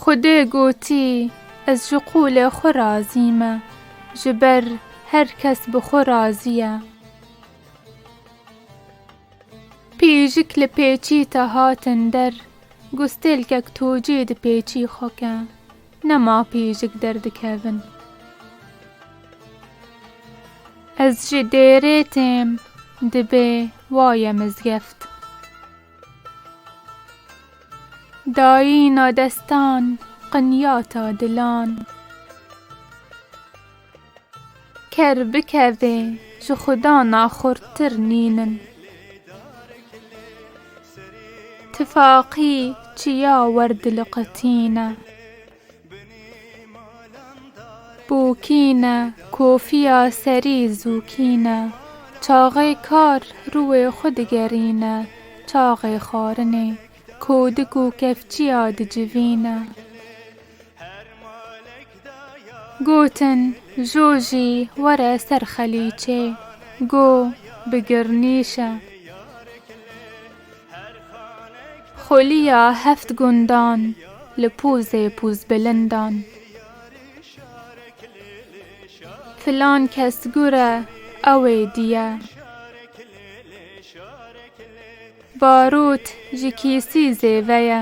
Xwedê gotî, Ez ji qûlê xwe razî me, ji ber her kes bi xwe razî ye. Pîjik li pêçî te hatin der, gustêlkek tocê di pêçî xwe ke. Ne ma pîjik derdikevin. Ez ji dêrê têm, dibê waye mizgeft. Dayîna destan qinyata dilan. Ker bi kevê ji xuda naxurtir nînin. Tifaqî çiya werdiliqitîne. Bûkîne kofiya serî zûkîne. Çaxê kar rûê xwe digerîne. Çaxê xwarinê kodik û kevçiya dicivîne. Gotin, Jo jî were ser xelîçê, go bi girnîş e. Xulîya heft gundan li pozê pozbilindan. Filan kes gur e, ew ê diye. Barot ji kîsî zêve ye.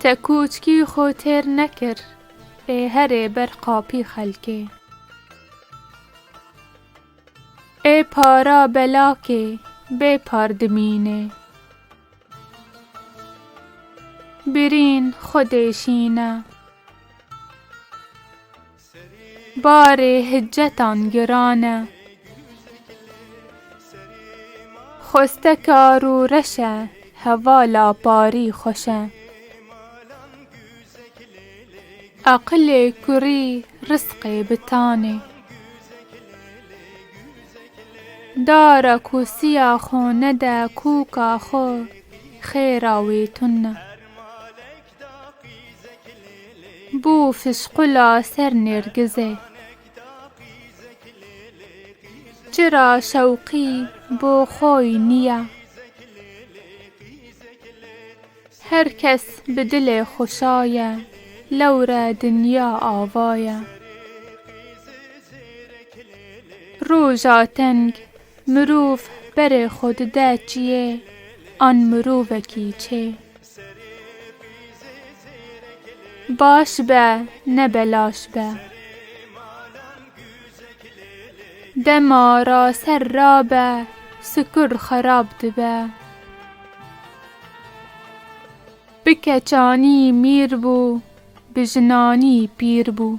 Te kûçkî xwe têr nekir. Ê herê ber qapî xelkê. Ê para belakê bê par dimînê. Birîn xwe dêşîne. Barê hicetan giran e. Xwesteke arû reş e. Hevala parî xweş e. Eqilê kurî risqê bitan ê. Dara ku siya xo nede kûka xo, xêra wê tune. Bû fişqula ser nêrgizê. Çi ra şewqî bo xoy nîya. Her kes bi dilê xo şaye. Lewre dinya ava ye. Roja teng mirov berê xo dide çiyê an mirovekî çê. Baş be ne belaş be. Dema ra ser rabe sikur xerab dibe. Bi keçanî mîr bû bi jinanî pîr bû.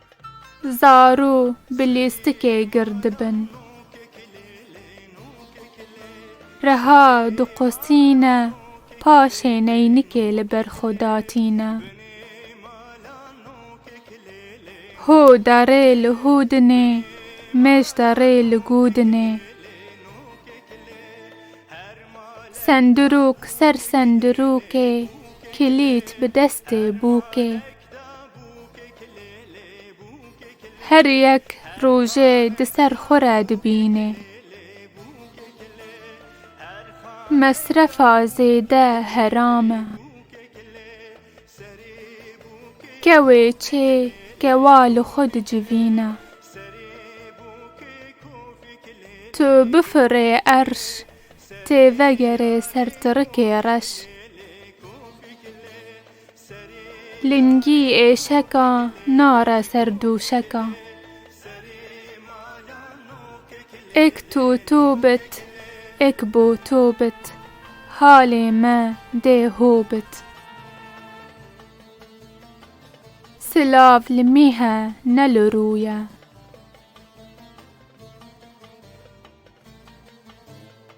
Zaro bi lêstikê gir dibin. Reha diqosîne paşê neynikê li ber xwe datîne. Ho derê li ho dinê, mêj derê li go dinê. Sendirok ser sendirokê, kilît bi destê bûkê. Her yek rojê di ser xwe re dibînê. Mesrefa zêde heram e. Kewê çê kewa li xwe dicivîne. Tu bifirê erş tê vegerê sertirikê reş. Lingî êşeka nare ser dûşeka. Êk tu tu bit, êk bo to bit, halê me dê ho bit. Silav li mîhe ne li rûye.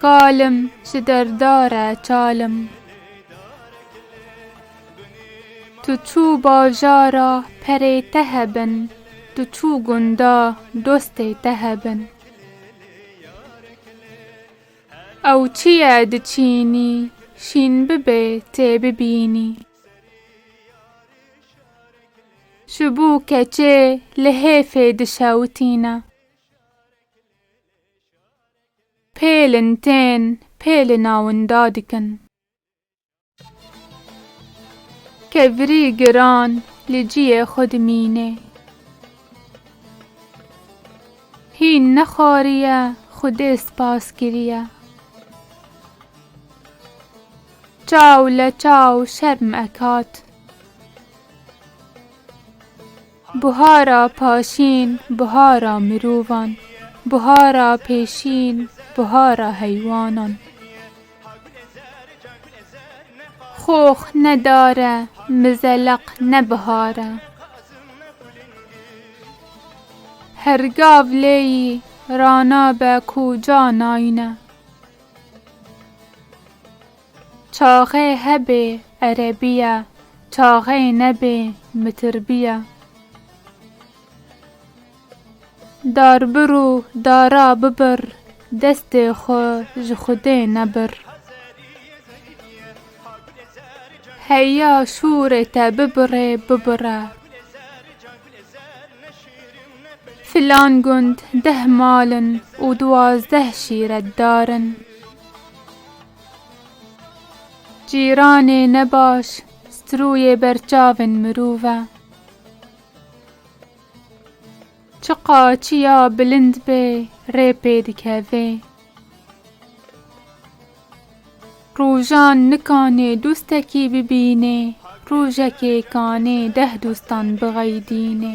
Kalim ji derdare çalim. Tu çû bajara perê te hebin tu çû gunda dostê te hebin. Ew çi ye diçînî şîn bibê tê bibînî. Ji bo keçê li hêfê dişewitîne. Pê li ntên, pê li nawinda dikin. Ke virî giran li ciyê xwe dimînê. Hîn nexwariye Xwedê spas kiriye. Çaw leçaw şerm ekat. Buhara paşîn, buhara mirovan, buhara pêşîn, buhara heywanan. Xox ne dar e, mizeleq ne bihar e. Her gav lêyî rana be kuca nayne. Çaxê hebê erebî ye, çaxê nebê mitirbî ye. Darbir û dara bibir, destê xwe ji Xwedê nebir. Heya şûrê te bibirê bibire. Filan gund deh mal in û duwazdeh şîret dar in. Cîranê ne baş strûyê berçavên mirov e. Çi qaçiya bilind bê rê pê dikevê. Rojan nikanê dostekî bibînê, rojekê kanê deh dostan bixeydînê.